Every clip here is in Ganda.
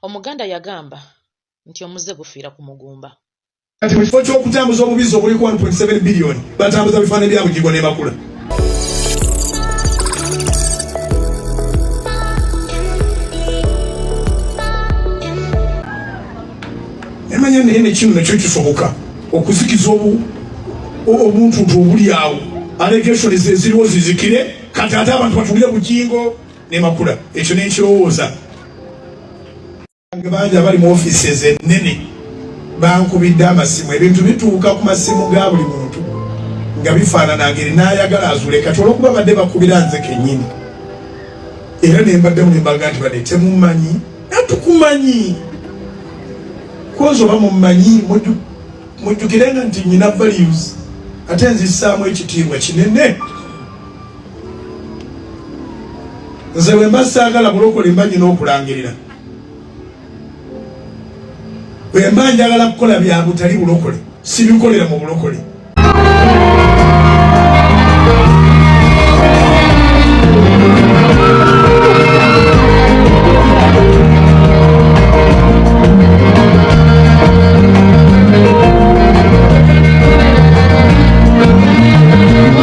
Omuganda yagamba nti omuzze gufiira ku mugumba. Kati mu kifo ky'okutambuza obubizzi obuliko 1.7 biliyoni batambuza bifaananyi bya Bugingo ne Makula. Emanya naye ne kino nakyo kisoboka okuzikiza obuntuntu obuli awo allegations eziriwo zizikire kati ate abantu batulire Bugingo ne makula ekyo nenkirowooza bangi abali mu offices ennene bankubidde amasimu ebintu bituuka ku masimu ga buli muntu nga bifaanana ngeri naayagala azule kati olwokuba badde bakubira nze kennyini era ne mbaddemu ne mbaga nti badde temumanyi natukumanyi kozi oba mumanyi mujjukirenga nti nyina values ate nzisaamu ekitiibwa kinene nze wemba saagala bulokole mba nyina okulangirira wemba njagala kukola bya butali bulokole sibikolera mu bulokole Thank you.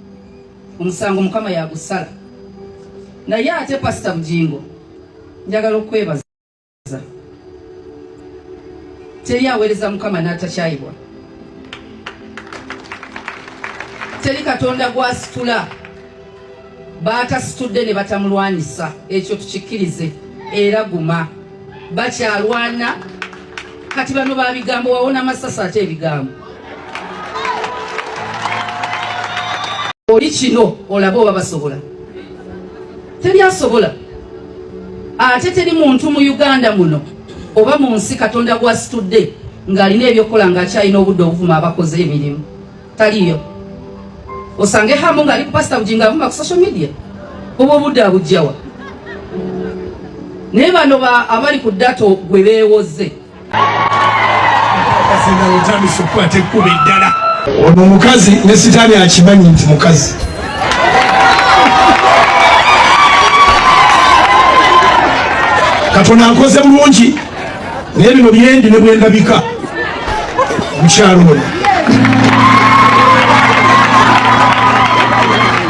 omusango mukama yagusala naye ate pasita bujingo njagala okwebaza teri aweereza mukama n'atakyayibwa teri katonda gwasitula baatasitudde ne batamulwanyisa ekyo tukikkirize era guma bakyalwana kati bano babigambo wawona masasi ate ebigambo oli kino olaba oba basobola teri asobola ate teri muntu mu uganda muno oba mu nsi katonda gwasitudde ng'alina ebyokukola ng'akyalina obudde obuvuma abakoze emirimu taliyo osange hamu nga ali ku pastor bujinga avuma ku social media obwo obudde abujjawa naye bano abali ku data gwe beewoze ono omukazi ne sitaani akimanyi nti mukazi katonda nkoze bulungi naye bino byendi ne bwendabika mukyalo ono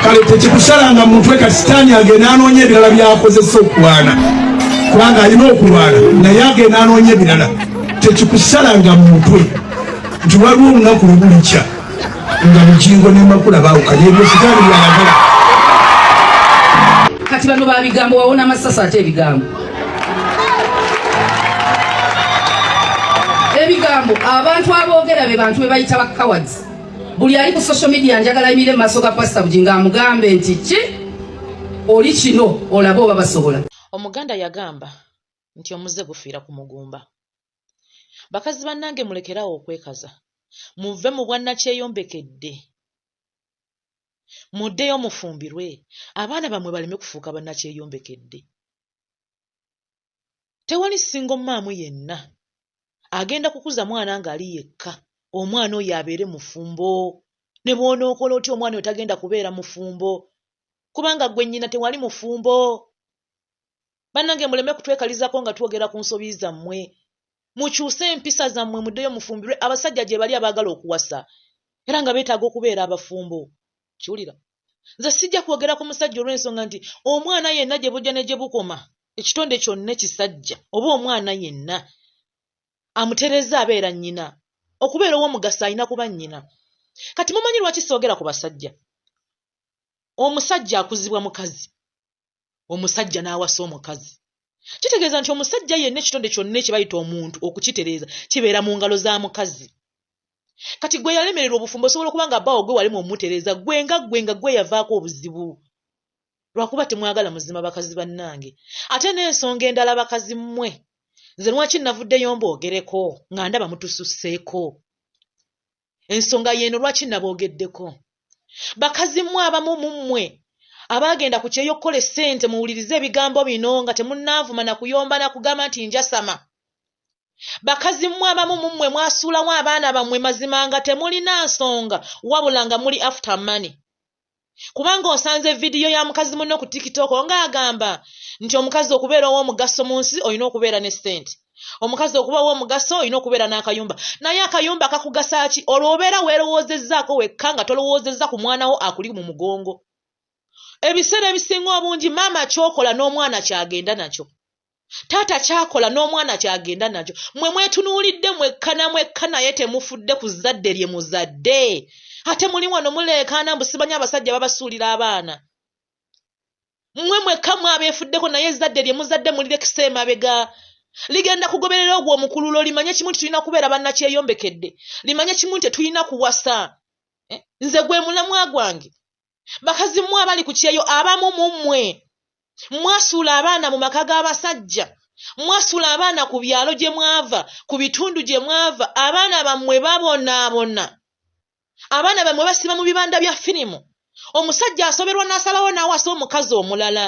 kale tekikusalanga mutwe ka sitaani agenda anoonya ebirala byakozesa okulwana kubanga alina okulwana naye agenda anoonya ebirala tekikusalanga mutwe nti waliwo olunaku lwebulikya nga mukingo nemakula bawukanye ebyo sitaani byayagala kati bano babigambo wawona amasasi ate ebigambo ebigambo abantu aboogera be bantu bebayita ba cowards buli ali ku social media njagala ayimire mu maaso ga pasita bujinga amugambe nti ki oli kino olaba oba basobola omuganda yagamba nti omuze gufiira ku mugumba bakazi bannange mulekerawo okwekaza muve mu bwannakyeyombeke dde Muddeyo mufumbirwe abaana bammwe baleme kufuuka bannakyeyombekedde. Tewali ssingo mmaamu yenna agenda kukuza mwana ng'ali yekka omwana oyo abeere mufumbo. Ne bw'onookola otya omwana oyo tagenda kubeera mufumbo kubanga ggwe nnyina tewali mufumbo. bannange muleme kutwekalizako nga twogera ku nsobi zammwe mukyuse empisa zammwe muddeyo mufumbirwe abasajja gye bali abaagala okuwasa era nga beetaaga okubeera abafumbo kiwulira nze sijja kwogera ku musajja olw'ensonga nti omwana yenna gye bujja ne gye bukoma ekitonde kyonna ekisajja oba omwana yenna amutereza abeera nnyina okubeera ow'omugaso alina kuba nnyina kati mumanyi lwaki soogera ku basajja omusajja akuzibwa mukazi omusajja n'awasa omukazi kitegeeza nti omusajja yenna ekitonde kyonna ekibayita omuntu okukitereeza kibeera mu ngalo za mukazi kati gwe yalemererwa obufumbo osobola okuba nga baawo gwe walemu omutereeza gwe nga gwe nga gwe yavaako obuzibu lwakuba temwagala muzima bakazi bannange ate n'ensonga endala bakazi mmwe nze lwaki navuddeyo mbogereko nga ndaba mutususseeko ensonga yeeno lwaki naboogeddeko bakazi mmwe abamu mu mmwe abaagenda ku kyeyo okukola essente muwulirize ebigambo bino nga temunnaavuma na kuyomba na kugamba nti njasama bakazi mmwe abamu mu mmwe mwasuulawo abaana bammwe mazima nga temulina nsonga wabula nga muli after money kubanga osanze vidiyo ya mukazi munno ku tikitoko ng'agamba nti omukazi okubeera ow'omugaso mu nsi olina okubeera ne ssente omukazi okuba ow'omugaso olina okubeera n'akayumba naye akayumba kakugasa ki olwo obeera weerowoozezzaako wekka nga tolowoozezza ku mwana wo akuli mu mugongo ebiseera ebisinga obungi maama kyokola n'omwana kyagenda nakyo taata kyakola n'omwana kyagenda nakyo mwe mwetunuulidde mwekka na mwekka naye temufudde ku zzadde lye muzadde ate muli wano muleekaana mbu simanyi abasajja babasuulira abaana mwe mwekka mwe abeefuddeko naye ezzadde lye muzadde mulirekisa emabega ligenda kugoberera ogwo omukululo limanye kimu nti tulina kubeera bannakyeyombekedde limanye kimu nti tetulina kuwasa eh, nze gwe mulamwa gwange bakazi mmwe abali ku kyeyo abamu mu mmwe mwasuula abaana mu maka g'abasajja mwasuula abaana ku byalo gye mwava ku bitundu gye mwava abaana bammwe babonaabona abaana bammwe basiba mu bibanda bya firimu omusajja asoberwa n'asalawo n'awasa omukazi omulala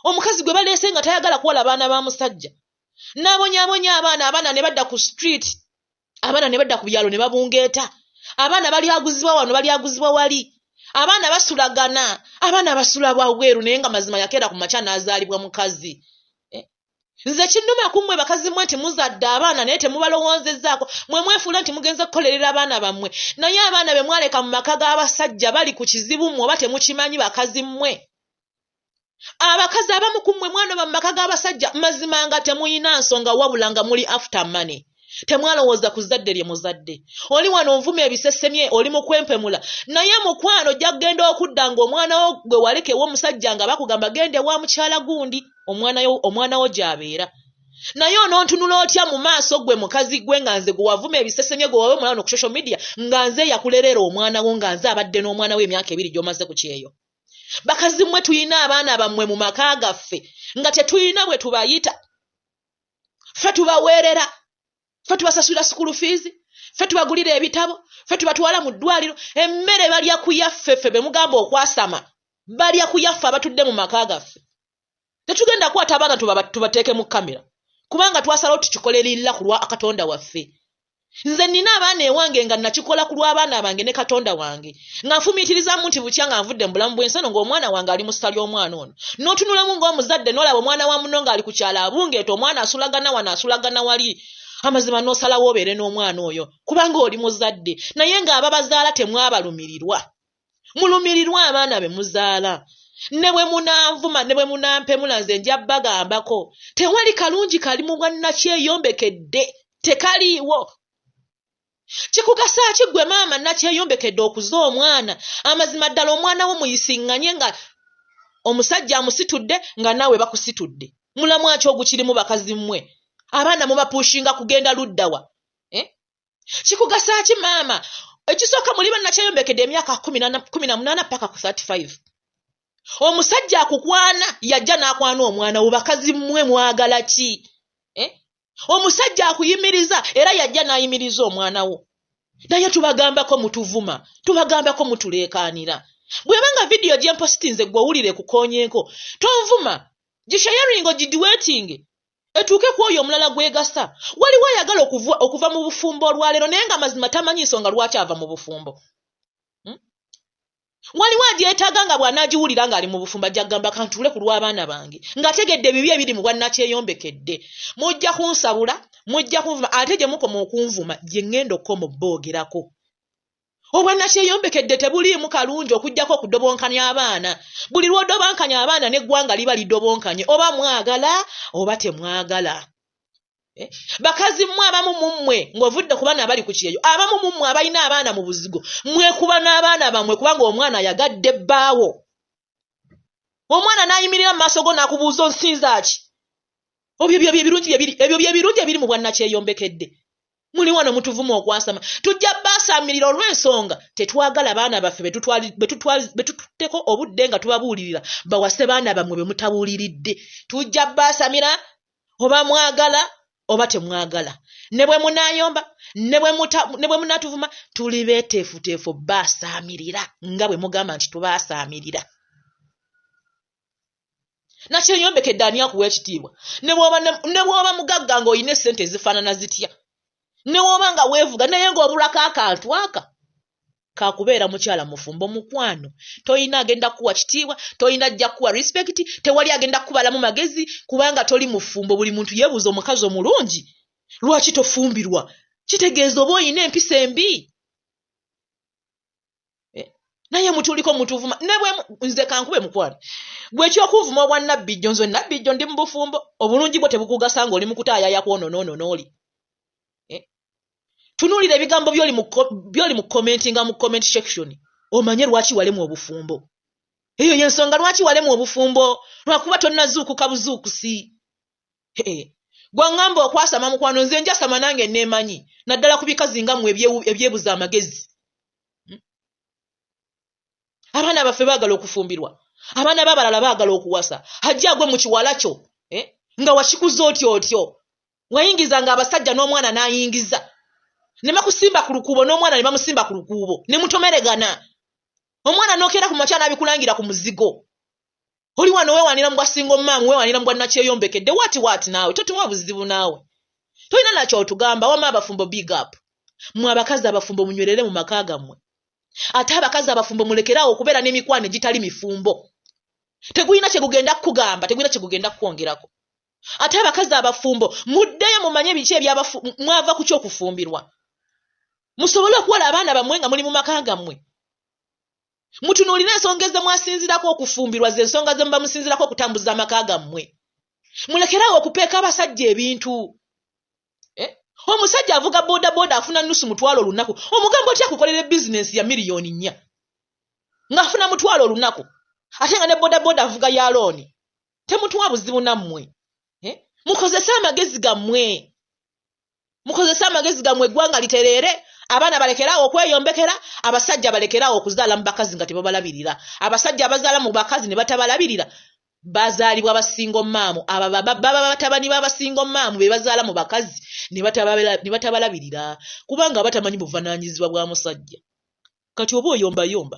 omukazi gwe baleese nga tayagala kuwala baana ba musajja n'abonyabonya abaana abaana ne badda ku street abaana ne badda ku byalo ne babungeeta abaana balyaguzibwa wano balyaguzibwa wali abaana basulagana abaana basula bwabweru naye nga mazima yakeera ku makya n'azaalibwa mukazi eh? nze kinnuma ku mmwe bakazi mmwe nti muzadde abaana naye temubalowoozezaako mwe mwefuula nti mugenze kukolerera abaana bammwe naye abaana be mwaleka mu maka g'abasajja bali ku kizibu mmwe oba temukimanyi bakazi mmwe abakazi abamu ku mmwe mwandoba mu maka g'abasajja mazima nga temuyina nsonga wabula nga muli after money temwalowooza ku zadde lye muzadde oli wano onvuma ebisesemye oli mu kwempemula naye mukwano ojja kugenda okudda ng'omwana wo gwe walekewo omusajja nga bakugamba genda ewa mukyala gundi omwana wo gy'abeera naye onontunula otya mu maaso gwe mukazi gwe nga nze gwewavuma ebisesemye gwe wawe omwana wano ku social media nga nze eyakulerera omwana wo nga nze abadde n'omwana wo emyaka ebiri gy'omaze ku kyeyo bakazi mmwe tulina abaana bammwe mu maka gaffe nga tetulina bwe tubayita ffe tubaweerera ffe tubasasulira sukulu fiizi ffe tubagulira ebitabo ffe tubatwala mu ddwaliro emmere balya kuyaffe ffe be mugamba okwasama balya kuyaffe abatudde mu maka gaffe tetugenda kwata abaana tubateeke mu kamera kubanga twasalawo tukikole lilla ku lwa katonda waffe nze nina abaana ewange nga nakikola ku lw'abaana bange ne katonda wange nga nfumiitirizamu nti bukya nga nvudde mu bulamu bw'ensano ng'omwana wange ali mu ssa ly'omwana ono n'otunulamu ng'omuzadde n'olaba omwana wa muno ng'ali ku kyalo abungeeta omwana asulagana wano asulagana wali amazima n'osalawo obeere n'omwana oyo kubanga oli muzadde naye ng'ababazaala temwabalumirirwa mulumirirwe abaana be muzaala ne bwe munanvuma ne bwe munampemula nze nja bagambako tewali kalungi kali mu bwannakyeyombekedde tekaliiwo kikugasa ki gwe maama nakyeyombekedde okuza omwana amazima ddala omwana wo muyisiŋŋanye nga omusajja amusitudde nga naawe bakusitudde mulamwaki ogukirimu bakazi mmwe abaana mubapushinga kugenda luddawa eh? kikugasaaki maama ekisooka muli bannakyeyombekedde emyaka kumi na munaana paka ku 35 omusajja akukwana yajja n'akwana omwana wo bakazi mmwe mwagala ki eh? omusajja akuyimiriza era yajja n'ayimiriza omwana wo naye tubagambako mutuvuma tubagambako mutuleekaanira bweba nga vidiyo gyempositinze gwe owulire kukonyenko tonvuma gishayaringo gidiwetinge etuuke ku oyo omulala gwegasa waliwo ayagala okuva mu bufumbo olwaleero naye nga mazima tamanyi nsonga lwaki ava mu bufumbo hmm? waliwo agyetaaga nga bw'anaagiwulira ng'ali mu bufumbo ajja kugamba kantuule ku lw'abaana bange ng'ategedde ebibi ebiri mu bwannakyeyombekedde mujja kunsabula mujja kunvuma ate gye mukoma okunvuma gye ŋŋenda okukoma obboogerako obwannakyeyombekedde tebuliimu kalungi okujjako okudobonkanya abaana buli lw'odobankanya abaana n'eggwanga liba lidobonkanye oba mwagala oba temwagala eh? bakazi mmwe abamu mu mmwe ng'ovudde ku baana abali ku kyeyo abamu mu mmwe abalina abaana mu buzigo mwekuba n'abaana bammwe kubanga omwana ayagadde bbaawo omwana n'ayimirira mu maaso go n'akubuuza onsinza ki obyo byo byebirungi byebiri ebyo byebirungi ebiri mu bwannakyeyombekedde muli wano mutuvuma okwasama tujja baasaamirira olw'ensonga tetwagala baana baffe be tututteko obudde nga tubabuulirira bawase baana bammwe be mutabuuliridde tujja baasamira oba mwagala oba temwagala ne bwe munaayomba ne bwe munatuvuma tuli beeteefuteefu baasaamirira nga bwe mugamba nti tubaasaamirira nakyeyombekedde ani akuwa ekitiibwa ne bw'oba mugagga ng'olina essente ezifaanana zitya ne bw'oba nga weevuga naye ng'obulako akantu aka kakubeera mukyala mufumbo mukwano tolina agenda kuwa kitiibwa tolina ajja kuwa respect tewali agenda kukubalamu magezi kubanga toli mufumbo buli muntu yebuuza omukazi omulungi lwaki tofumbirwa kitegeeza oba olina empisa embi eh, naye mutuliko mutuvuma nze kankube mukwano gwekyokuvuma obwa nabbijjo nze nabbijjo ndi mubufumbo obulungi bwo tebukugasa nga oli mukutaayaya kwononoonona oli tunuulira ebigambo byoli mu komenti nga mu comment section omanye lwaki walemu obufumbo eyo yensonga lwaki walemu obufumbo lwakuba tonnazuukuka buzuukusi gwaŋŋamba okwasama mukwano nze njasama nange neemanyi naddala ku bikazi nga mwe ebyebuza amagezi hmm? abaana baffe baagala okufumbirwa abaana b'abalala baagala okuwasa hajja agwe mu kiwala kyo eh? nga wakikuza otyo otyo wayingiza nga abasajja n'omwana n'ayingiza ne bakusimba ku lukuubo n'omwana ne bamusimba ku lukuubo ne mutomeregana omwana n'okeera ku makya n'abikulangira ku muzigo oli wano weewanira mu bwa singa omumaamu weewanira mu bwa nakyeyombekedde waati waati naawe totuwa buzibu naawe tolina nakyo otugamba wama abafumbo big up mwe abakazi abafumbo munywerere mu maka gammwe ate abakazi abafumbo mulekeraawo okubeera n'emikwano egitali mifumbo tegulina kyegugenda kukugamba tegulina kyegugenda kukwongerako ate abakazi abafumbo muddeyo mumanye biki ebyamwava ku kyokufumbirwa musobole okuwola abaana bamwe nga muli mu maka gammwe mutunuulire ensonga ezemwasinzirako okufumbirwa ze ensonga ze muba musinzirako okutambuza amaka gammwe mulekeraawo okupeeka abasajja ebintu eh? omusajja avuga boda boda afuna nusu mutwalo olunaku omugambo otya kukolera bizinensi ya miliyoni nnya ng'afuna mutwalo olunaku ate nga ne boda boda avuga ya looni temutuwa buzibu nammwe eh? mukozese amagezi gammwe mukozese amagezi gammwe eggwanga litereere abaana balekeraawo okweyombekera abasajja balekeraawo okuzaala mu bakazi nga tebabalabirira abasajja abazaala mu bakazi ne batabalabirira bazaalibwa basingo maamu abababa batabani babasingo maamu be bazaala mu bakazi ne batabalabirira kubanga abatamanyi buvananyizibwa bwa musajja kati oba oyombayomba